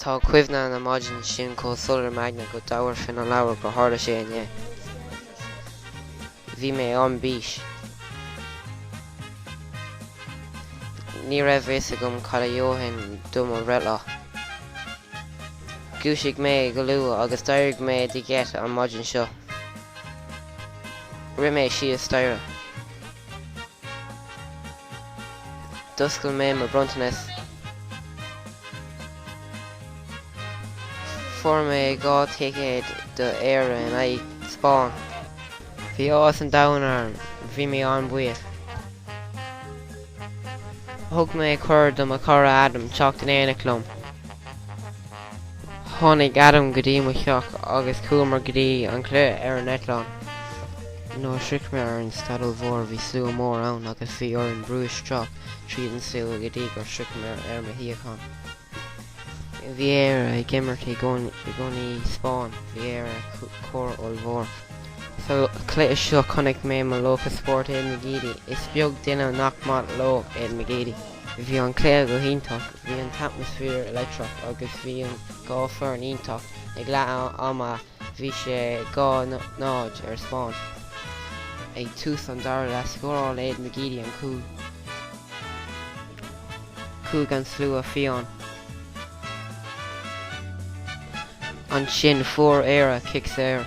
Tá cuimhne na maidine sin chomh soiléir im' aigne go dtabharfainn an leabhar gur tharla sé inné. Bhí mé ar bís. Ní raibh a fhios agam cad a gheobhainn do mo bhreithlá. Dhúisigh mé go luath agus d'éirigh mé de gheit an maidin seo. Rith mé síos staighre. D'oscail mé mo bronntanas. Fuair mé dhá ticéad do Éire in aghaidh Spáinn. Bhí áthas an domhain orm. Bhí mé an-bhuíoch. Thug mé cuireadh do mo chara Adam teacht in éineacht liom. Tháinig Adam go dtí mo theach agus chuamar go dtí an cluiche ar an eitleán. Nuair a shroich mé ar an staid ollmhór bhí slua mór ann agus bhí orainn brú isteach tríd an slua go dtí gur shroich mé ar mo shuíochán. Bhí Éire ag imirt i gcoinne Spáinn, bhí Éire cóir ollmhór. Sa cluiche seo chonaic mé mo laocha spóirt Aiden McGeady. Is beag duine nach maith leo Aiden McGeady. Bhí an cluiche go hiontach, bhí an t-atmaisféar leictreach agus bhí an dhá foireann iontach, ag leath ama bhí sé dhá náid ar Spáinn. Ag tús an dara leath scóráil Aiden McGeady an cúl chuaigh an slua fiáin. Ansin fuair Éire cic saor.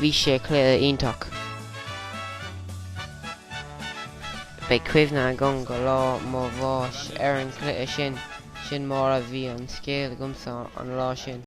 Bhí sé cluiche iontach. Beidh cuimhne agam go lá mo bháis ar an cluiche sin. Sin mar a bhí an scéal agamsa an lá sin.